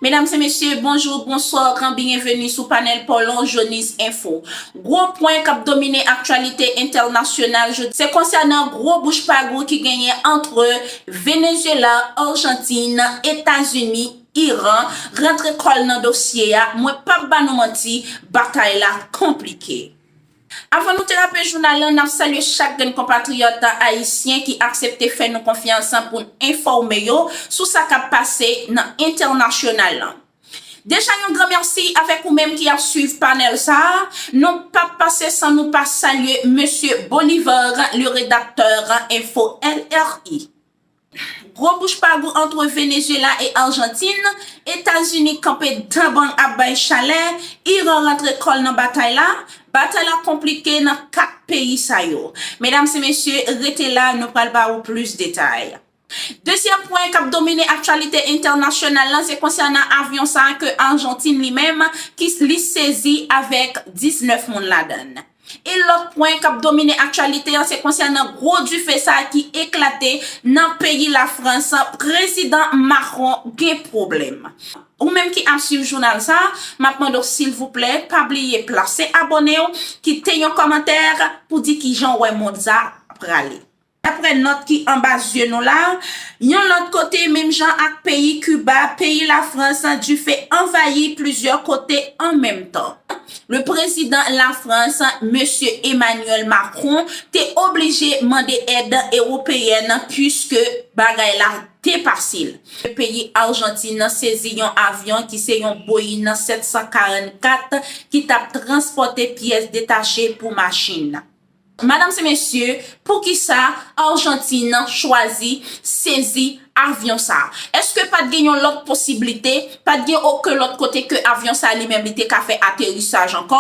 Medam se mesye, bonjou, bonswa, gran biyeveni sou panèl Paulhan Jhonis Info. Gwo pwen kap domine aktyalite entènasyonal jodi se konsènan gwo bouch pagou ki genyen antre Venezyela, Arjantin, Etazini, Iran, rantre kòl nan dosye a, mwen pap ba nou manti, batay la konplike. Avan nou trape jounal lan, nap salye chak grenn konpatriyòt ayisyen ki aksepte fè nou konfyans pou n enfòme yo sou sa kap pase nan entènasyonal lan. Deja yon gran mèsi avèk ou menm ki ap swiv panèl sa a, nou pap pase san nou pa salye Mesye Bolivar le Redacteur Info LRI. Gwo bouch pa gou antre Venezuela e Arjantin, Etazini kanpe dan bang ap bay chalè, Iran rantre kò l nan batay la, batay la konplike nan 4 peyi sa yo. Medam se mesye, rete la nou pral ba ou plis detay. Dezyèm pwen kap domine aktyalite entènasyonal lan se konsènan avyon sa ke Arjantin li menm ki li sezi avèk 19 moun ladan l. Yn lòt pwen kap domine aktyalite an se konsènan gwo dife sa ki eklate nan peyi la frans prezidan Macron gen pwoblèm. Ou menm ki ap swiv jounal sa map mande w silvouplè pa bliye plase abòne w kite yon kòmantè pou di kijan w wè mond sa prale. Daprè nòt ki anba zye nou la, yon lòt kote menm jan ak peyi Kiba, peyi Lafrans dife anvayi plizyè kote an menm tan. Le prezidan Lafrans, Mesye Emmanuel Macron, te oblije mande èd ewopeyèn puiske bagay la te pase l. Le peyi Arjantin sezi yon avyon ki se yon Boeing 744 ki t ap transpòte pyès detache pou machin. Madam se mesye poukisa argentine chwazi sezi avyon sa eske pat gen yon lot posiblite pat gen oken lot kote ke avyon sa li menm li te ka fè aterisaj anko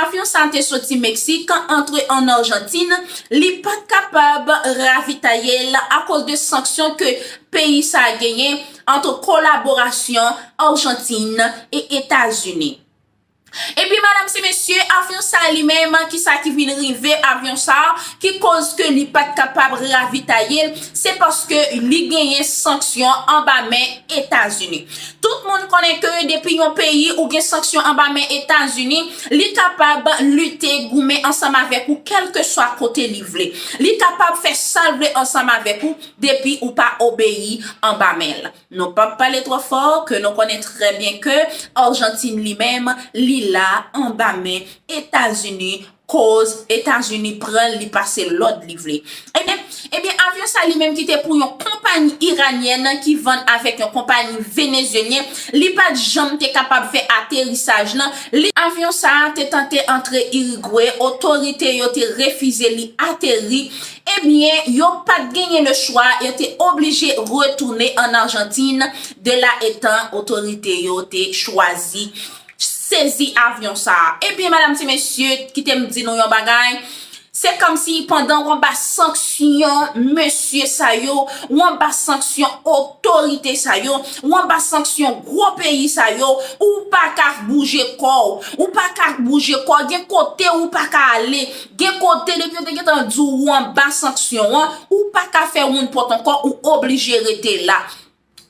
avyon sa te soti meksik antre an argentine li pat kapab ravitayel akoz de sanksyon ke peyi sa genyen antre kolaborasyon argentine e etazini. Ebyen madam se mesye avyon sa li menm ki sa ki vin rive avyon sa ki koz ke li pat kapab ravitaye l se paske li genyen sanksyon anba men etazini tout moun konnen ke depi yon peyi ou gen sanksyon anba men etazini li kapab lite goumen ansanm avèk ou kelke swa kote li vle li kapab fè sal vle ansanm avèk ou depi ou pa obeyi anba men l. Nou pap pale twò fò ke nou konnen trè byen ke Argentine li menm li la anba men Etazini koz Etazini pranl li pase lòd li vle. Ebyen ebyen avyon sa li menm ki te pou yon konpayi Iranienne ki vann avèk yon konpayi Venezuelien li pat janm te kapab fè aterisaj nan Avyon sa te tante antre Uruguay otorite yo te refize li ateri Ebyen, yo pa t genyen lechwa, yo te oblije retounen ann Ajantin, de la etan otorite yo te chwazi sezi avyon sa a. Ebyen, medam se mesye, kite m di nou yon bagay, se kòmsi pandan w anba sanksyon mesye sa yo, w anba sanksyon otorite sa yo, w anba sanksyon gwo peyi sa yo, ou pa ka bouje kò w. Ou pa ka bouje kò w, gen kote ou pa ka ale. Gen kote depi yo te gentan di w ou anba sanksyon an, ou pa ka fè woun pòt ankò, ou oblije rete la.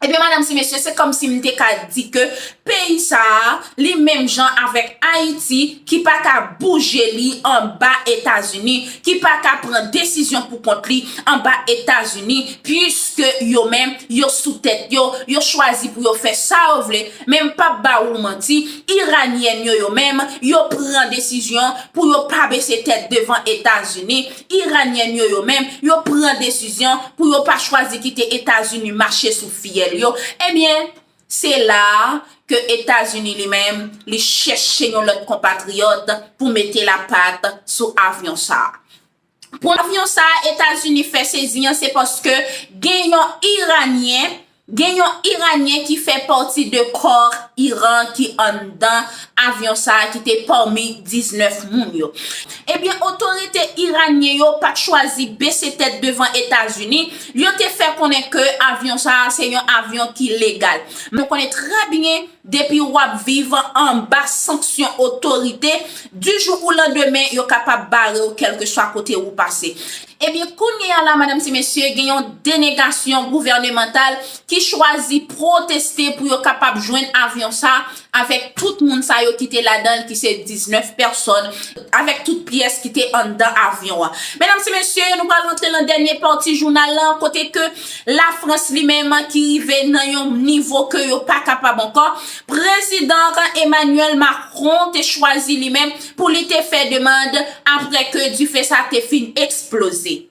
Ebyen madam si mesye se kòm si m te ka di ke peyi sa a li menm jan avèk Ayiti ki pa ka bouje li anba Etazini, ki pa ka pran desizyon pou kont li anba Etazini, puiske yo menm yo sou tèt yo, yo chwazi pou yo fè sa yo vle. Men m pap ba ou manti, Iranienne yo yo menm, yo pran desizyon pou yo pa bese tèt devan Etazini, Iranienne yo yo menm, yo pran desizyon pou yo pa chwazi kite Etazini mache sou fyèl yo, ebyen se la a ke Etazini li menm li chèche yon lòt konpatriyòt pou mete lapat sou avyon sa a. Pwavyon sa a Etazini fè sezi an se paske gen yon Iranyen, gen yon Iranyen ki fè pati de kò Iran ki anndan avyon sa a ki te pami 19 moun yo. Ebyen otorite Iranyen yo pa t chwazi bese tèt devan Etazini, yo te fè konnen ke avyon sa a se yon avyon ki legal. Nou konnen trè byen Depi w ap viv anba sanksyon otorite, di jou ou landemen yo kapab bare w kèlkeswa kote ou pase. Ebyen kounye a la madam se mesye gen yon denegasyon gouvènemantal ki chwazi pwoteste pou yo kapab jwenn avyon sa avèk tout moun sa yo ki te ladan l ki se 19 pèsòn avèk tout pyès ki te anndan avyon an. Medam se mesye nou pral rantre nan dènye pati jounal lan kote ke La Frans li menm ki rive nan yon nivo ke yo pa kapab ankò, prezidan Emmanuel Macron te chwazi li menm pou li te fè demand apre ke dife sa te fin eksploze.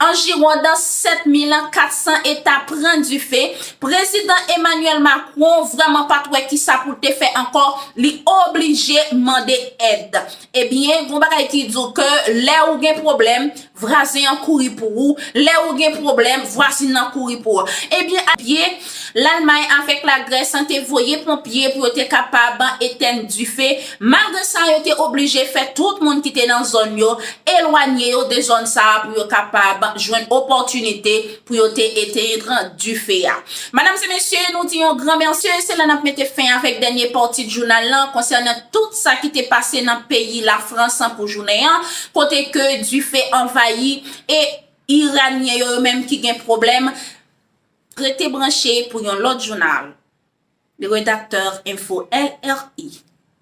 Anjirondan 7400 eta pran dife, prezidan Emmanuel Macron vrèman pat wè kisa pou l te fè ankò, li oblije mande èd. Ebyen, gon bagay ki di w ke lè ou gen pwoblèm, Vwazen an kouri pou ou, lè ou gen pwoblèm, vwazin nan kouri pou ou. Ebyen a pye, Lalmay avèk Lagrès te voye ponpye pou yo te kapab etèn dife, malgre sa yo te oblije fè tout moun ki te nan zòn yo elwanye yo de zòn sa a pou yo kapab jwenn opòtinite Pou yo te eteyndran dife a. Madam se mesye, nou di yon gran mèsi e se la nap mete fen avèk dènye pati t jounal lan konsènan tout sa ki te pase nan peyi la frans pou jounen an kote ke dife anvayi e iranyen yo yo menm ki gen pwoblèm. Rete branche pou yon lòt jounal. Redaktè Enfo LRI.